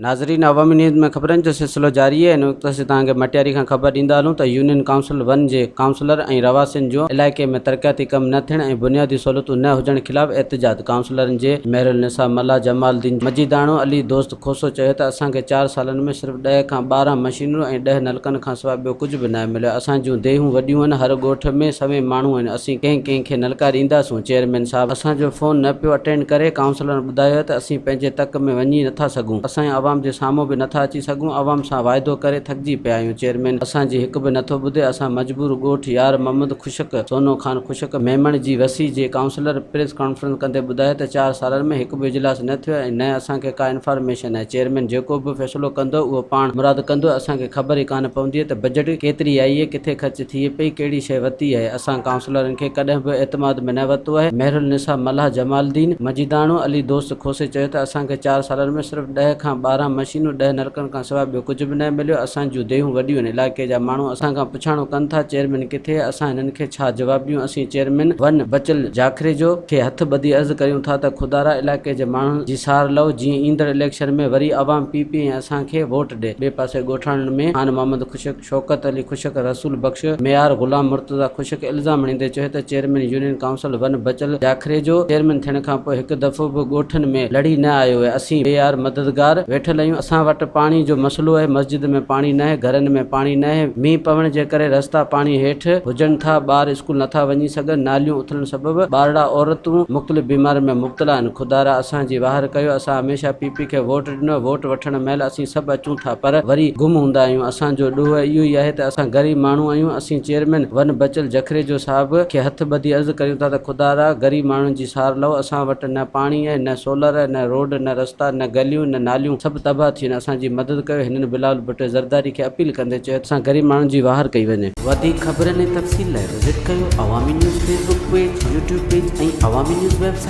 ناظرين عوامي نيوز ۾ خبرن جو سلسلو جاري آهي هن وقت اسين توهان کي مٽياري کان خبر ڏيندا هلون ته يونين ڪائونسل ون جي ڪائونسلر ۽ رهواسين جو علائقي ۾ ترقياتي ڪم نه ٿيڻ ۽ بنيادي سهولتون نه هجڻ خلاف احتجاج ڪائونسلرن جي مهرالنساء ملاح جمال الدين مجيداڻو علي دوست کوسو چيو ته اسان کي چار سالن ۾ صرف ڏهه کان ٻارهن مشينرون ۽ ڏهه نلڪن کان سواء ٻيو ڪجهه به ناهي مليو، اسان جون ديهون وڏيون آهن، هر ڳوٺ ۾ سوين ماڻهو آهن، اسين ڪنهن ڪنهن کي نلڪا ڏينداسون، چيئرمين صاحب اسان جو فون نه پيو اٽينڊ ڪري، ڪائونسلرن ٻڌايو ته اسين پنهنجي تڪ ۾ وڃي نه ٿا سگهون، اسان عوام جي سامهون به نه ٿا اچي سگهون، عوام سان واعدو ڪري ٿڪجي پيا آهيون، چيئرمين اسان جي هڪ به نه ٿو ٻڌي، اسان مجبور ڳوٺ يار محمد خشڪ، سونو خان خشڪ، ميمڻ جي وسي جي ڪائونسلر پريس ڪانفرنس ڪندي ٻڌايو ته چار سالن ۾ هڪ. به اجلاس نه ٿيو ۽ نه اسان کي ڪا انفارميشن آهي، چيئرمين جيڪو به فيصلو ڪندو اهو پاڻ مراد ڪندو، اسان کي خبر ئي ڪانه پوندي ته بجيٽ ڪيتري آئي اهي، ڪٿي خرچ ٿئي پئي، ڪهڙي شيء وتي آهي، اسان ڪائونسلرن کي ڪڏهن به اعتماد ۾ نه ورتو آهي، مهرالنساء ملاح جمال الدين، مجيداڻو، علي دوست کوسي چيو ته اسان کي چار سالن ۾ صرف ڏهه کان ٻارهن مشينون، ڏهه نلڪن کان سواء ٻيو ڪجهه به ناهي مليو، اسان جون ديهون وڏيون آهن، علائقي جا ماڻهو اسان کان. پڇاڻو ڪن ٿا چيئرمين ڪٿي اسان هنن کي ڇا جواب ڏيون اسين چيئرمين ون بچل جاکريجو کي هٿ ٻڌي عرض ڪريون ٿا ته خدارا علائقي جي ماڻهن جي سار لئو جيئن ايندڙ اليڪشن ۾ وري عوام پي پي ۽ اسان کي ووٽ ڏي ٻي پاسي ڳوٺاڻن ۾ خان محمد خشڪ شوڪت علي خشڪ رسول بخش ميار غلام مرتضيٰ خشڪ الزام هڻيندي چيو ته chairman union council one Bachal Jakhri جو چيئرمين ٿيڻ کانپوء هڪ دفعو به ڳوٺن ۾ لڙهي نه آيو آهي، اسين بي يار مددگار ويٺل آهيون، اسان وٽ پاڻي جو مسئلو آهي، مسجد ۾ پاڻي ناهي، گهرن ۾ پاڻي ناهي، مينهن پوڻ جي ڪري رستا پاڻي هيٺ هجن ٿا، ٻار اسڪول نٿا وڃي سگهن، ناليون اٿلڻ سبب ٻارڙا عورتون مختلف بيمارين ۾ مبتلا آهن، خدارا اسان جي واهر ڪيو، اسان هميشه پي پي کي ووٽ. نه ووٽ وٺڻ مهل اسين سڀ اچون ٿا پر وري گم هوندا آهيون اسان جو ڏوهه اهو ئي آهي ته اسان غريب ماڻهو آهيون اسين چيئرمين ون بچل جکريجو صاحب کي هٿ ٻڌي عرض ڪريون ٿا ته خدارا غريب ماڻهن جي سار لئو اسان وٽ نه پاڻي آهي نه سولر نه روڊ نه رستا نه گليون نه ناليون سڀ تباهه ٿي ويون اسان جي مدد ڪيو هنن بلاول ڀٽو زرداري کي اپيل ڪندي چيو ته اسان غريب ماڻهن جي واهر ڪئي وڃي. وڌيڪ خبرن ۽ تفصيل لاء وزٽ ڪيو Awami news Facebook page, YouTube page ۽ Awami نيوز ويب سائيٽ.